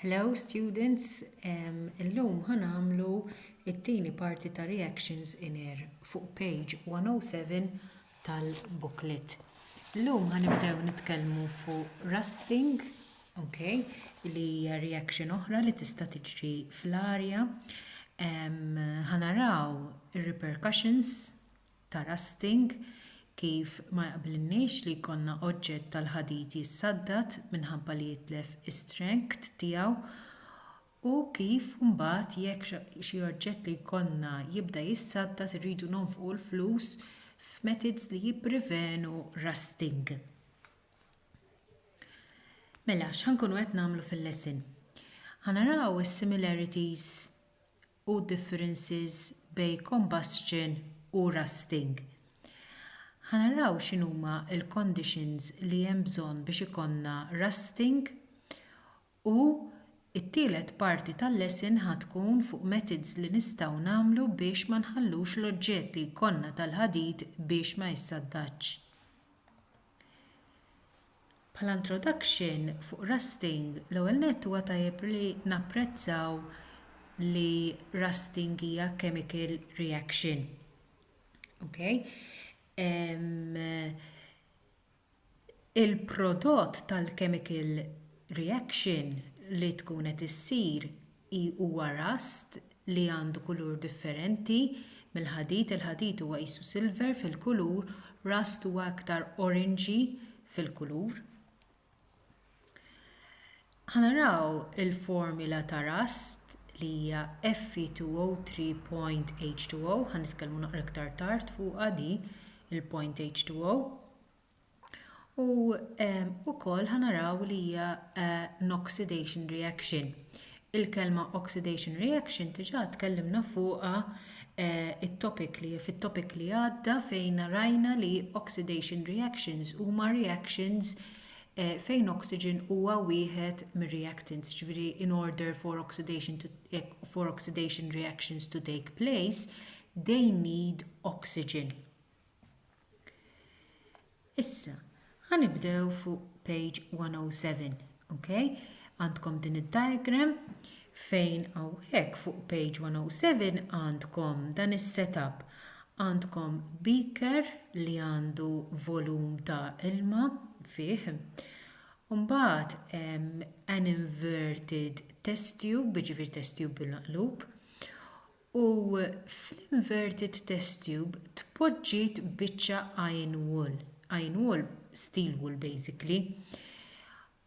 Hello students, illum ħa nagħmlu t-tieni parti ta' reactions in air fuq page 107 tal-booklet. Illum ħa nibdew nitkellmu fuq rusting, ok, li hija reaction oħra li tista' tiġri fl-arja. Ħa naraw ir-repercussions ta' rusting, kif ma jaqblilniex li jkollna oġġett tal-ħadid jissaddad minħabba li jitlef is-strength tiegħu u kif mbagħad jekk xi oġġett li jkollna jibda jissaddad irridu nonfqu l-flus f'methods li jipprevenu rusting. Mela, x'ħa nkunu qed nagħmlu fil-lesson? Ħa naraw is-similarities u differences bejn combustion u rusting. Ħa naraw x'inhuma l-conditions li hemm bżonn biex ikollna rusting u t-tielet parti tal-lesson ħa tkun fuq methods li nistgħu nagħmlu biex ma nħallux l-oġġett li jkollna tal-ħadid biex ma jissaddatx. Bħala introduction fuq rusting, l-ewwel nett huwa tajjeb li napprezzaw li rusting hija chemical reaction. Okay? Um, il-prodott tal-chemical reaction li tkun qed issir I Huwa rust li għandu kulur differenti mill-ħadid, il-ħadid huwa qisu silver fil-kulur, rust huwa iktar oranġi fil-kulur. Ħa naraw il-formula ta' rust li hija Fe2O3.H2O, ħa nitkellmu naqra iktar tard fuqha di il-point H2O. U ukoll ħanaraw li hija noxidation reaction. Il-kelma oxidation reaction diġà tkellimna fuqha it-topic li fit-topic li għadda fejn rajna li oxidation reactions huma reactions fejn oxygen huwa wieħed mir-reactants, ġifieri in order for oxidation to for oxidation reactions to take place, they need oxygen. Issa, ħa nibdew fuq page 107, ok? Għandkom din id-diagram fejn hawnhekk fuq page 107 għandkom dan is-setup. Għandkom beaker li għandu volum ta' ilma fih. Mbagħad an inverted test tube, ġifier test tube bil-maqlub. U fl-inverted test tube tpoġġiet biċċa iron wool, iron wool, steel wool basically.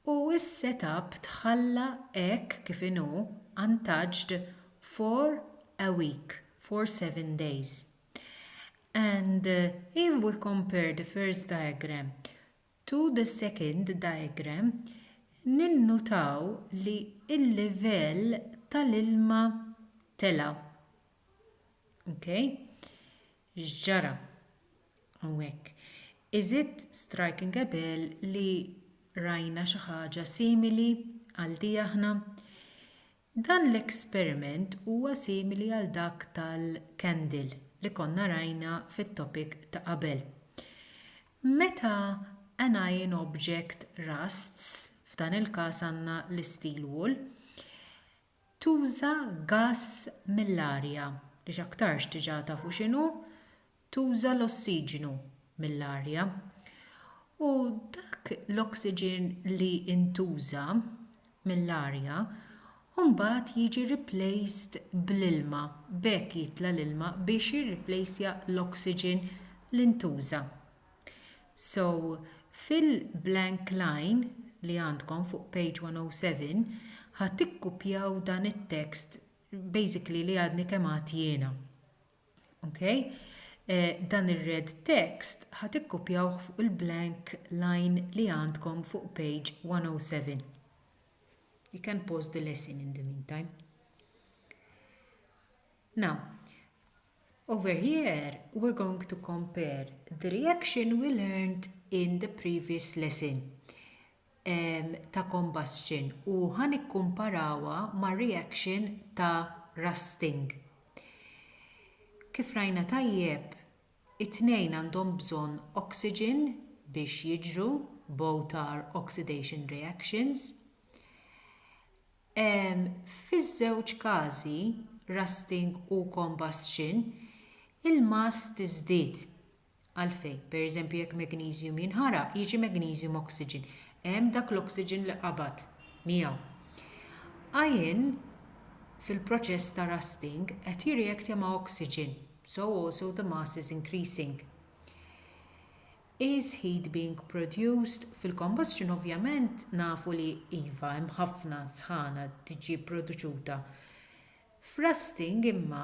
U s-set up tħalla hekk kif inhu untouched for a week, for seven days. And if we compare the first diagram To the second diagram ninnutaw li l-livell tal-ilma tela'. Ok? X'ġara? Hawnhekk. Is it striking a bell li rajna xi ħaġa simili għal di aħna? Dan l-esperiment huwa simili għal dak tal-candle li konna rajna fit-topic ta' qabel. Meta anion object rusts, f'dan il-każ għandna l-isteel wool, tuża gass mill-arja, li x'aktarx diġà tafu x'inhu, tuża l-ossiġnu mill-arja u dak l-oxygen li ntuża mill-arja mbagħad jiġi replaced bl-ilma b'hekk jitla' l-ilma biex jirreplacja l-oxygen li ntuża so fil-blank line li għandkom fuq page 107 ħa tikkupjaw dan it-text basically li għadni kemm għedt jiena. Ok, dan ir-red text ħa tikkupjawh fuq il-blank line li għandkom fuq page 107. You can pause the lesson in the meantime. Now, over here we're going to compare the reaction we learned in the previous lesson. ta' combustion u ħa nikkumparawha ma' reaction ta' rusting. Kif rajna tajjeb, it-tnejn għandhom bżonn oxygen biex jiġru, both are oxidation reactions. Fiż-żewġ każi, rusting u combustion, il-mass tiżdied Għalfejn? Per eżempju jekk magnesium jinħaraq jiġi magnesium oxygen. Hemm dak l-oxygen li qabad miegħu. Iron fil-proċess ta' rusting qed jirreactja ma' oxygen, so also the mass is increasing. Is heat being produced? Fil-combustion ovvjament nafu li iva hemm ħafna sħana tiġi produċuta. F'rusting imma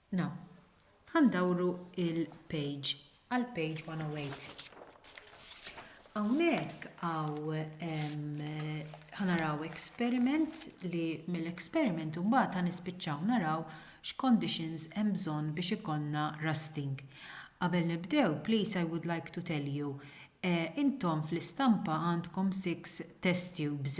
Now, ħa ndawru il-page għal page 108. Hawnhekk għaw ħa naraw experiment li mill-experiment imbagħad ħa nispiċċaw naraw x'conditions hemm bżonn biex ikollna rusting. Qabel nibdew, please I would like to tell you, eh, intom fl-istampa għandkom six test tubes.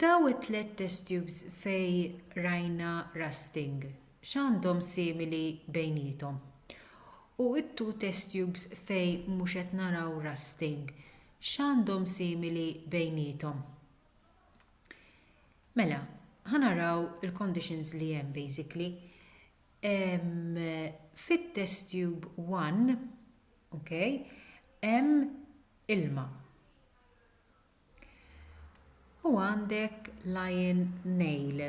Daw it-tliet test tubes fejn rajna rusting x'għandhom simili bejniethom? U t-two test tubes fejn mhux qed naraw rusting x'għandhom simili bejniethom? Mela, ħa naraw il-conditions li hemm basically. Ehm, fit-test tube 1, okay, hemm ilma. U għandek lion nail,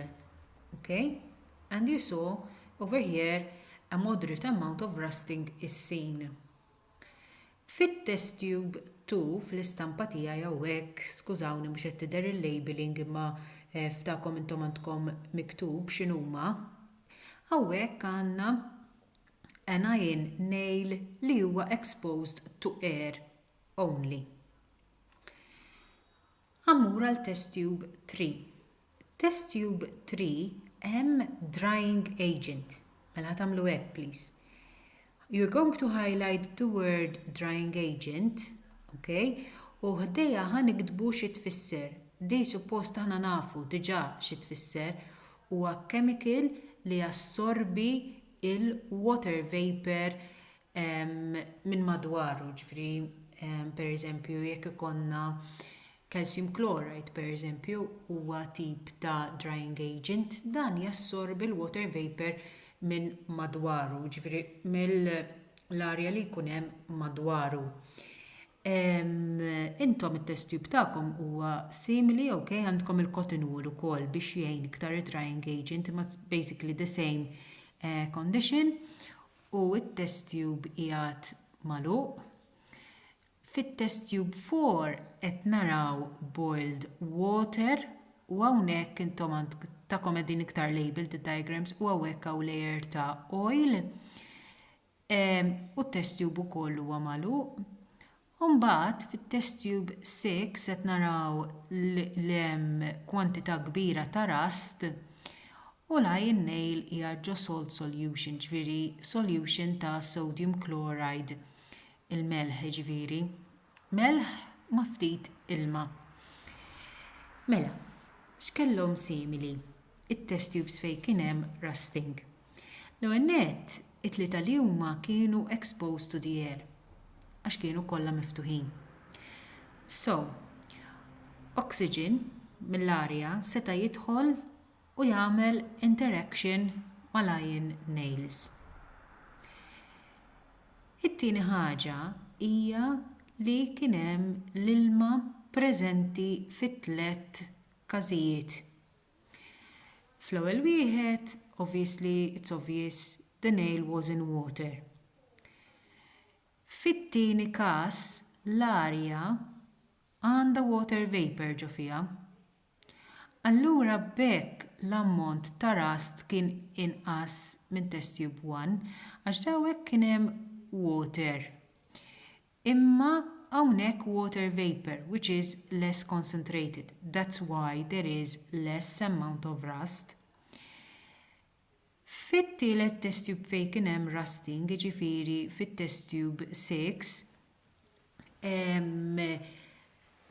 ok? And you saw over here a moderate amount of rusting is seen. Fit-test tube 2 fl-istampa tiegħi hawnhekk, skużawni mhux qed tidher il-labelling imma eh, f'dakom intom għandkom miktub x'inhuma, hawnhekk għandna an iron nail li huwa exposed to air only. Ammur għal Test Tube 3. Test Tube 3 hemm drying agent. Mela tagħmlu hekk please. You're going to highlight the word drying agent, ok? U ħdejha ħa niktbu xi tfisser. Di suppost aħna nafu diġà xi tfisser huwa chemical li jassorbi il-water vapor minn madwaru, ġifieri pereżempju jekk ikollna calcium chloride pereżempju huwa tip ta' drying agent, dan jassorbi l-water vapour minn madwaru, ġifieri mill-arja li jkun hemm madwaru. Intom it-test tube tagħkom huwa simili ok, għandkom il-cotton wool ukoll biex jgħin iktar id-drying agent imma it's basically the same condition u t-test tube qiegħed magħluq. Fit-test tube 4 qed naraw boiled water u hawnhekk intom tagħkom qegħdin iktar labeled id-diagrams u hawnhekk hawn layer ta' oil u t-test tube ukoll huwa magħluq. U mbagħad fit-test tube 6 qed naraw li hemm kwantità kbira ta' rust u l-iron nail hija ġo salt solution ġifieri solution ta' sodium chloride il-melħ jiġifieri melħ ma' ftit ilma. Mela, x'kellhom simili t-test tubes fejn kien hemm rusting? L-ewwel nett, it-tlieta li huma kienu exposed to the air għax kienu kollha miftuħin. So, oxygen mill-arja seta' jidħol u jagħmel interaction mal-iron nails. It-tieni ħaġa hija li kien hemm l-ilma preżenti fit-tliet każijiet. Fl-ewwel wieħed, obviously, it's obvious, the nail was in water. Fit-tieni każ, l-arja għandha water vapour ġo fiha. Allura b'hekk l-ammont ta' rust kien inqas minn test tube one għax daw hekk kien hemm water. Imma hawnhekk water vapour which is less concentrated that's why there is less amount of rust. Fit-tielet test tube fejn kien hemm rusting jiġifieri fit-test tube 6,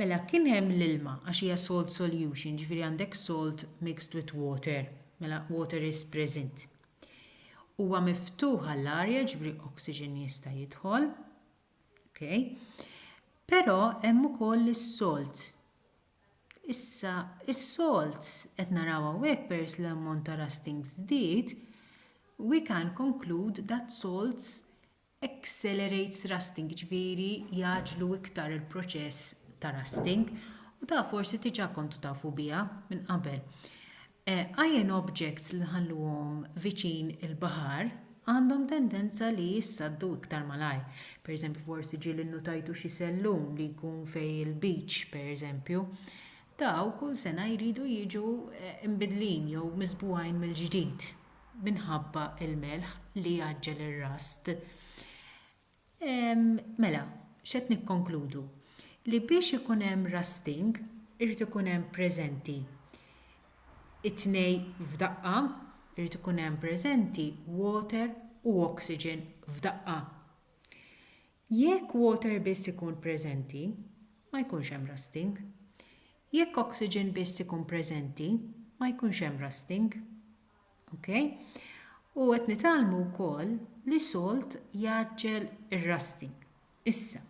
Mela kien hemm l-ilma għax hija salt solution, ġifieri għandek salt mixed with water, mela water is present. Huwa miftuħ għall-arja, ġifieri oxygen jista' jidħol. Okay. Però hemm ukoll is-salt. Issa is-salt qed naraw hawnhekk pers l-ammont ta' rusting żdied, we can conclude that salts accelerates rusting, jiġifieri jgħaġġlu iktar il-proċess ta' rusting, u da forsi diġà kontu tafu biha minn qabel. Iron objects li nħalluhom viċin il-baħar għandhom tendenza li jissaddu iktar malajr. Pereżempju forsi ġieli nnutajtu xi sellum li jkun fejn il-beach pereżempju. Daw kull sena jridu jiġu eh, imbidlin jew miżbugħin mill-ġdid. minħabba l-melħ li jgħaġġel ir-rast. Mela, x'qed nikkonkludu? Li biex ikun hemm rusting irid ikun hemm preżenti it-tnejn f'daqqa, irid ikun hemm preżenti water u oxygen f'daqqa. Jekk water biss ikun preżenti, ma jkunx hemm rusting. Jekk oxygen biss ikun preżenti, ma jkunx hemm rusting. Ok? U qed nitgħallmu wkoll li salt jgħaġġel ir-rusting. Issa,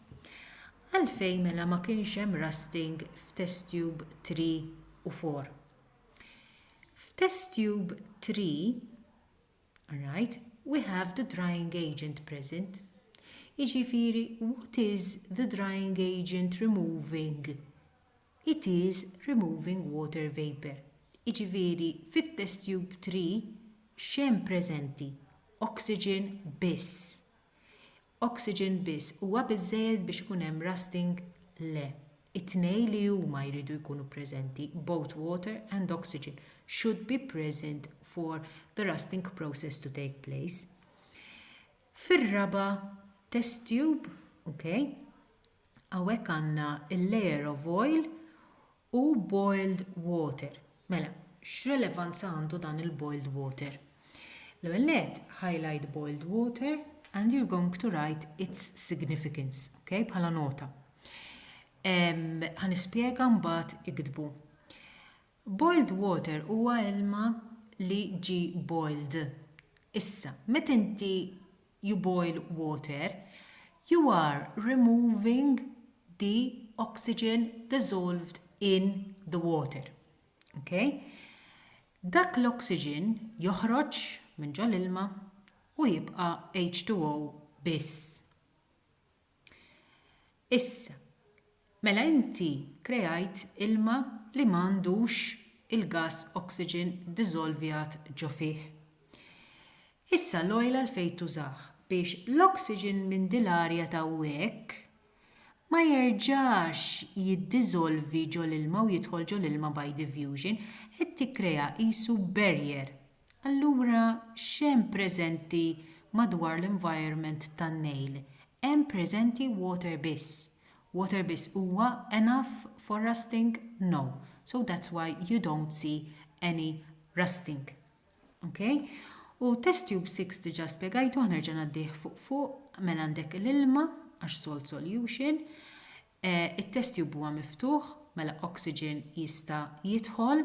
għalfejn mela ma kienx hemm rusting f'test tube 3 u 4? F'test tube 3, Right, we have the drying agent present. Jiġifieri what is the drying agent removing? It is removing water vapour. Jiġifieri fit-test tube 3 x'hemm preżenti? Oxygen biss. Oxygen biss huwa biżżejjed biex ikun hemm rusting? Le. It-tnejn li huma jridu jkunu preżenti, both water and oxygen should be present for the rusting process to take place. Fir-raba' test tube, ok, hawnhekk għandna l-layer of oil U boiled water. Mela, x'relevanza għandu dan il-boiled water? L-ewwel nett, highlight boiled water and you're going to write its significance, ok, bħala nota. Ħanispjega mbagħad iktbu. Boiled water huwa ilma li ġi boiled. Issa, meta inti you boil water, you are removing the oxygen dissolved in the water. Okay? Dak l-oxygen joħroġ minn ġol-ilma u jibqa' H2O biss. Issa, mela inti kreajt ilma li ma għandux il-gass oxygen diżolvjat ġo fih. Issa l-oil għalfejn tużah? Biex l-oxygen minn din l-arja t'hawnhekk ma jerġax jiddiżolvi ġol-ilma u jidħol ġol-ilma by diffusion, qed tikkrea qisu barrier Allura x'hemm preżenti madwar l-environment tan-Nile? Hemm preżenti water biss. Water biss huwa enough for rusting? No. So that's why you don't see any rusting. Ok? U test tube 6 diġà spjegajtuh nerġa' ngħaddih fuq fuq mela għandek l-ilma għax salt solution. Eh, it-test tube huwa miftuħ mela oxygen jista' jidħol.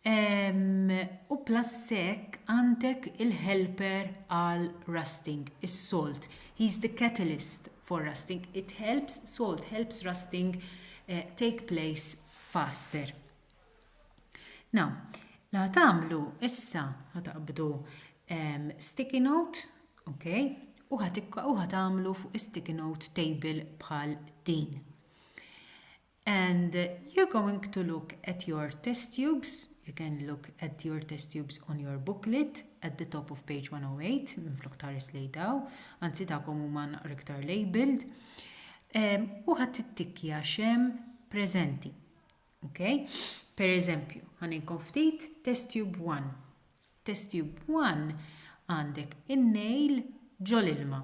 Ehm, u plus hekk għandek il-helper għal rusting, is-salt. He's the catalyst for rusting. It helps, salt helps rusting eh, take place faster. Now, la tagħmlu issa ħataqbdu ehm, sticky note, ok, u ħatikka u ħatamlu fuq sticky note table bħal din. And you're going to look at your test tubes, you can look at your test tubes on your booklet at the top of page 108 minflok tħares lejn daw, anzi dawkom huma naqra iktar labeled. Ehm, u ħadd tittikkja xem preżenti. Okay? Per eżempju, ħaninkom ftit test tube 1. Test tube 1 għandek in-nail ġol ilma.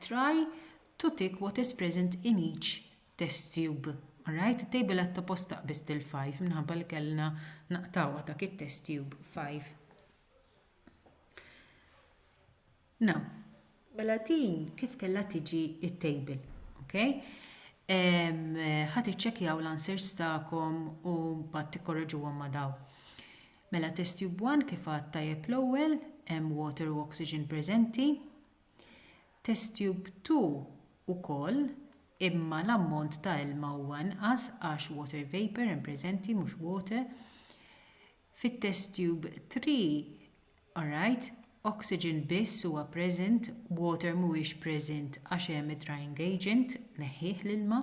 Try to tick what is present in each test tube. Alright, it-table għad toppost taqbiż til 5 minħabba li kellna naqtawha dak it-test tube 5. Now, mela din kif kellha tiġi it-table, okay? ħat iċċekjaw l-answers tagħkom u mbagħad tikkorreġuhom ma' dawn. Mela test tube one kif għad tajjeb l-ewwel, hemm water u oxygen preżenti. Test tube two ukoll imma l-ammont ta' ilma huwa inqas għax water vapour hemm preżenti mhux water. Fit-test tube three, alright, oxygen biss huwa present, water mhuwiex present għax hemm id-drying agent, neħħih l-ilma.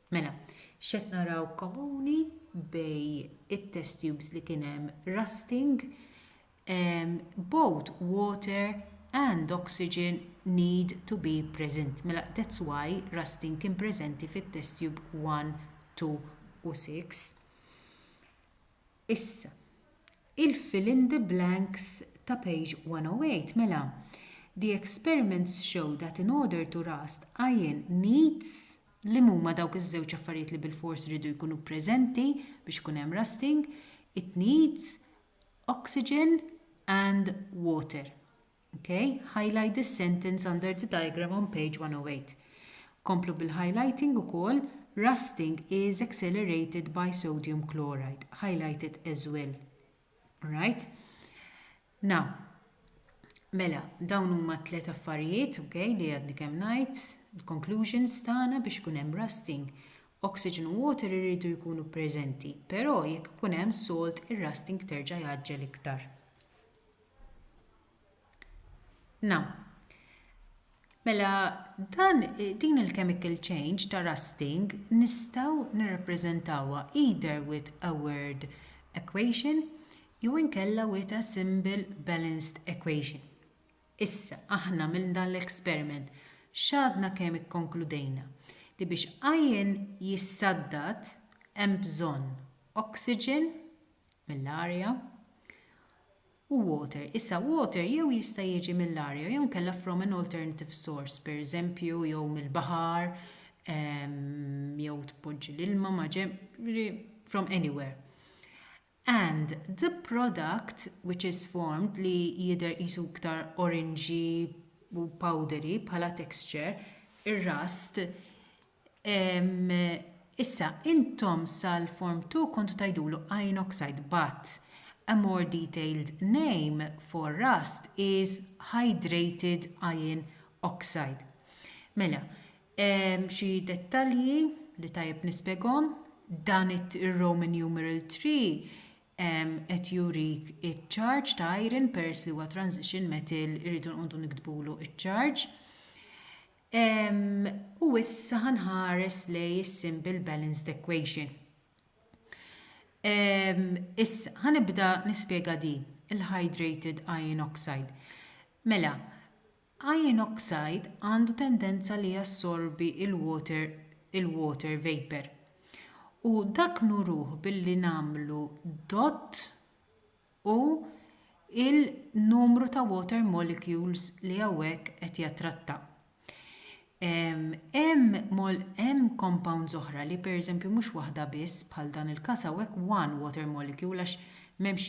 Mela, x'qed naraw komuni bejn it-test tubes li kien hemm rusting, both water and oxygen need to be present. Mela that's why rusting kien preżenti fit-test tube one, two u six. Issa, il-fill in the blanks ta' page 108, mela, the experiments show that in order to rust iron needs li mhuma dawk iż-żewġ affarijiet li bilfors iridu jkunu preżenti biex ikun hemm rusting, it needs oxygen and water. Okay, highlight this sentence under the diagram on page 108. Komplu bil-highlighting ukoll, Rusting is accelerated by sodium chloride. Highlight it as well. Alright? Now, mela, dawn huma tliet affarijiet, okay, li għadni kemm ngħid, il-conclusions tagħna biex ikun hemm rusting. Oxygen u water iridu jkunu preżenti, però jekk ikun hemm salt, ir-rusting terġa' jaġġel iktar. Na. Mela, dan, din il-chemical change ta' rusting nistgħu nirrappreżentawha either with a word equation jew inkella with a symbol balanced equation. Issa, aħna minn dan l-experiment x'għadna kemm ikkonkludejna? Li biex iron jissaddad hemm bżonn oxygen, mill-arja u water. Issa water jew jista' jiġi mill-arja jew inkella from an alternative source, pereżempju jew mill-baħar ehm, jew tpoġġi l-ilma ma' from anywhere. And the product which is formed li jidher qisu iktar oranġi u powdery bħala texture, ir-rust Issa, intom sal-Form Two kontu tgħidulu iron oxide but a more detailed name for rust is hydrated iron oxide. Mela, xi dettalji li tajjeb nispjegahom, dan ir-Roman numeral three qed jurik iċ-charge ta' iron peress li huwa transition metal irridu nqogħdu niktbulu iċ-charge. U issa ħa nħares lejn is-simple balanced equation. Issa, ħa nibda nispjega din, il-hydrated iron oxide. Mela, iron oxide għandu tendenza li jassorbi il-water il-water vapor. U dak nuruh billi nagħmlu dott u l-numru ta' water molecules li hawnhekk qed jattratta. Hemm compounds oħra li pereżempju mhux waħda biss bħal dan il-każ hawnhekk one water molecule għax m'hemmx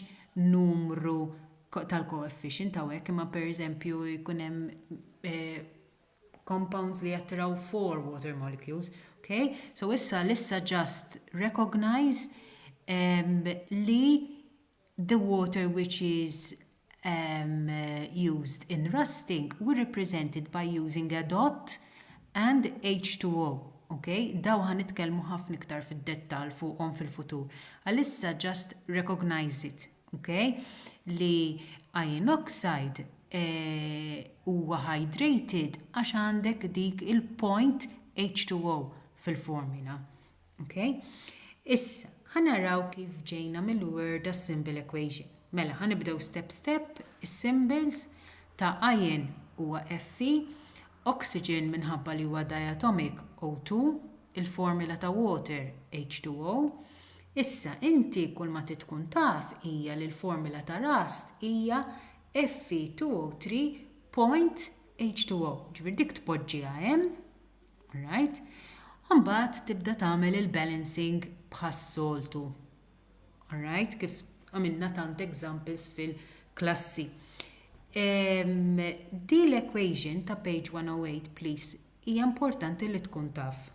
numru tal-coefficient hawnhekk imma pereżempju jkun hemm compounds li jattiraw four water molecules, ok? So issa l-issa just recognize um, li the water which is um, used in rusting were represented by using a dot and H2O. Okay? Daw ħan nitkellmu ħafna iktar fid-dettal fuqhom fil-futur. Għalissa just recognize it. Okay? Li iron oxide eh, huwa hydrated għax għandek dik il-point H2O fil-formula. Okay? Issa, ħanaraw kif ġejna mill-word a symbol equation. Mela, ħanibdew step step, is-symbols ta' iron huwa Fe, oxygen minħabba li huwa diatomic O2, il-formula ta' water H2O, Issa, inti kulma trid tkun taf hija li l-formula ta' Rust hija Fe2O3.H2O, jiġifieri dik tpoġġiha hemm, alright, u mbagħad tibda tagħmel il-balancing bħas-soltu, alright, kif għamilna tant examples fil-klassi. Din l-equation ta' page 108 please Hija importanti li tkun taf.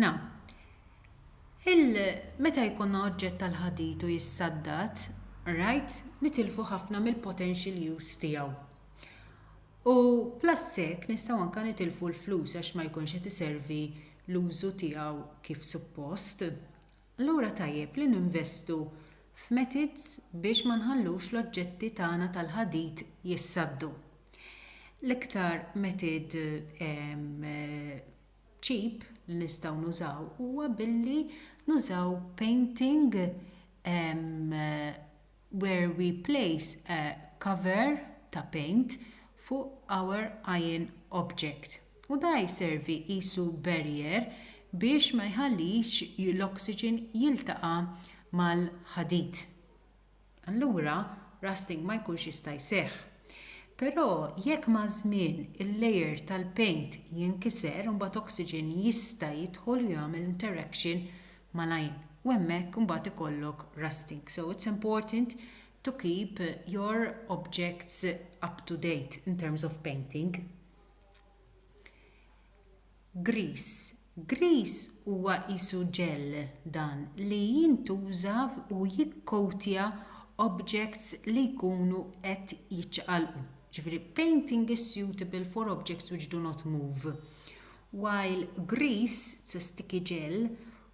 Na. Il meta jkollna oġġett tal-ħadid u jissaddad, right, nitilfu ħafna mill-potential use tiegħu. U plus hekk nistgħu anke nitilfu l-flus għax ma jkunx qed iservi l-użu tiegħu kif suppost. Allura tajjeb li ninvestu f'methods biex ma nħallux l-oġġetti tagħna tal-ħadid jissaddu. L-iktar method cheap li nistgħu nużaw huwa billi nużaw painting where we place a cover ta' paint fuq our iron object. U da jservi qisu barrier biex ma jħallix l-oxygen jiltaqa' mal-ħadid. Allura rusting ma jkunx jista' jseħħ. Però jekk maż-żmien il-layer tal-paint jinkiser imbagħad oxygen jista' jidħol u jagħmel interaction mal-għajn u hemmhekk imbagħad ikollok rusting. So it's important to keep your objects up to date in terms of painting. Grease, Grease huwa qisu ġell dan li jintuża u jikkoatja objects li jkunu qed jiċċaqalqu. Ġifieri painting is suitable for objects which do not move, while grease, it's a sticky gel,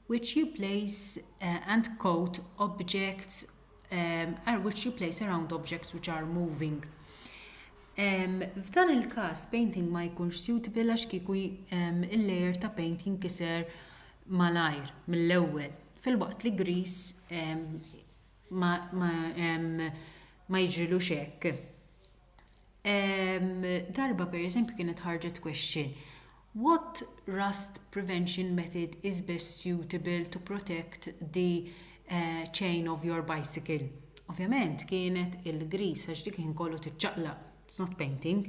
which you place and quote objects are which you place around objects which are moving. Um, F'dan il-każ painting ma jkunx suitable għax kieku um, il-layer ta' paint jinkiser malajr mill-ewwel fil-waqt li gris um, ma, ma, um, ma jiġrilux hekk. Darba pereżempju kienet ħarġet question, What rust prevention method is best suitable to protect the chain of your bicycle? Ovvjament kienet il-grease għax dik il-ħin kollu tiċċaqlaq, it's not painting.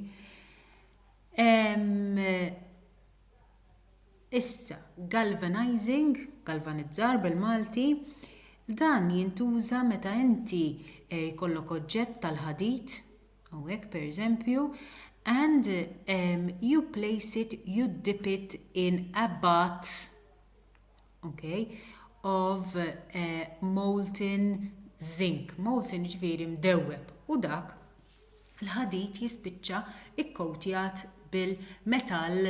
Issa, galvanizing, galvanizzar bil-Malti, dan jintuża meta inti jkollok oġġett tal-ħadid, u hekk pereżempju, and you place it, you dip it in a bath, ok, of molten zinc, molten jiġifieri mdewweb, u dak l-ħadid jispiċċa kkowtjat bil-metall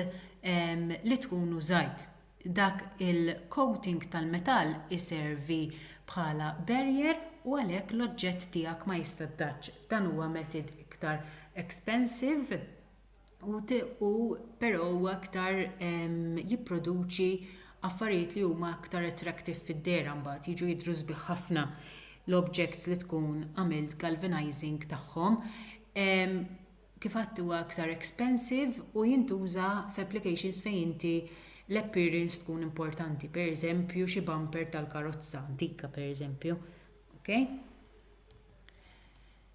li tkun użajt. Dak il-coating tal-metall iservi bħala barrier u għalhekk l-oġġett tiegħek ma jissaddatx. Dan huwa method iktar expensive u però huwa aktar jipproduċi affarijiet li huma aktar attractive fid-dehra mbagħad jiġu jidhru sbieħ ħafna l-objects li tkun għamilt galvanizing tagħhom. Kif għedt huwa aktar expensive u jintuża f'applications fejn inti l-appearance tkun importanti, pereżempju xi bumper tal-karozza antika pereżempju. Okay?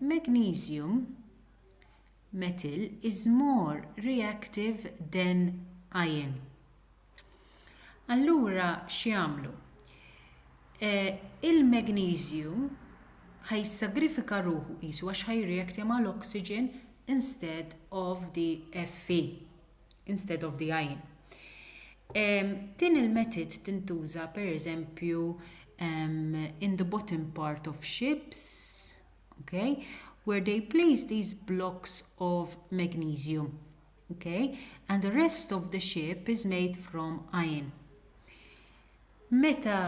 Magnesium metal is more reactive than iron. Allura x'jagħmlu? Il-magneżju ħa jissagrifika ruħu qisu għax ħa jirreactja mal-oxygen instead of the Fe. instead of the għajn. Um, din il-metod tintuża per eżempju um, in the bottom part of ships, okay, where they place these blocks of magnesium, okay, and the rest of the ship is made from iron. Meta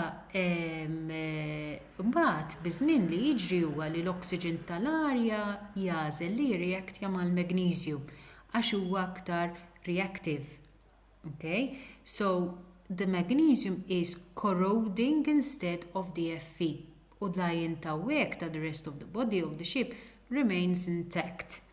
mbagħad biż-żmien li jiġri huwa li l-oxygen ta' l-arja jagħżel li jirreactja mal-magneżju għax huwa aktar reactive ok so the magnesium is corroding instead of the Fe u l-ion ta' hekk ta' the rest of the body of the ship remains intact.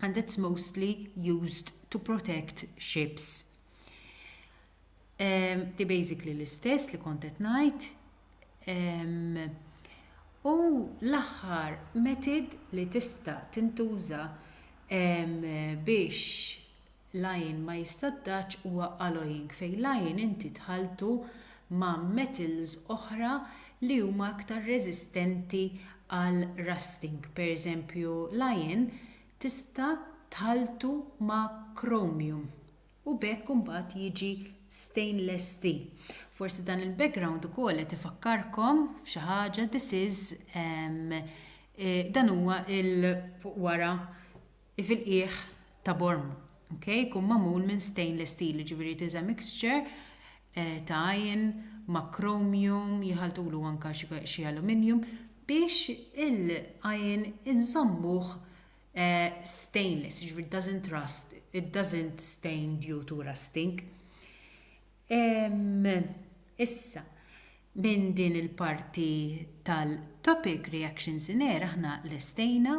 and it's mostly used to protect ships. Um, di basically l-istess li kont qed ngħid. Um, u l-aħħar metod li tista' tintuża um, biex Lying ma jissaddax huwa alloying fejn lying inti tħalltu ma' metals oħra li huma aktar reżistenti għal rusting. Per eżempju lying tista' tħalltu ma' chromium u b'hekk imbagħad jiġi stainless steel. Forsi dan il-background ukoll qed ifakkarkom f'xi ħaġa this is dan huwa il fuq wara li fil-qiegħ ta' borm okay jkun magħmul minn stainless steel jiġifieri it is a mixture eh, ta' iron ma' chromium jħaltulu anke xi aluminium biex il-iron inżommuh eh, stainless jiġifieri doesn't rust it doesn't stain due to rusting issa minn din il-parti tal-topic reactions in air aħna lestejna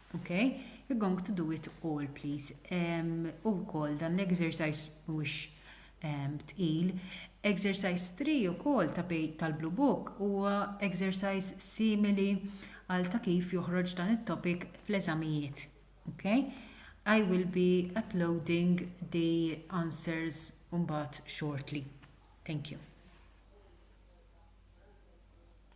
Okay, you're going to do it all, please. Um, u kol, dan l-exercise mux um, tqil. Exercise 3 u kol ta' tal-Blue Book u exercise simili għal ta' kif joħroġ dan il-topic fl-eżamijiet. Okay? I will be uploading the answers umbat shortly. Thank you.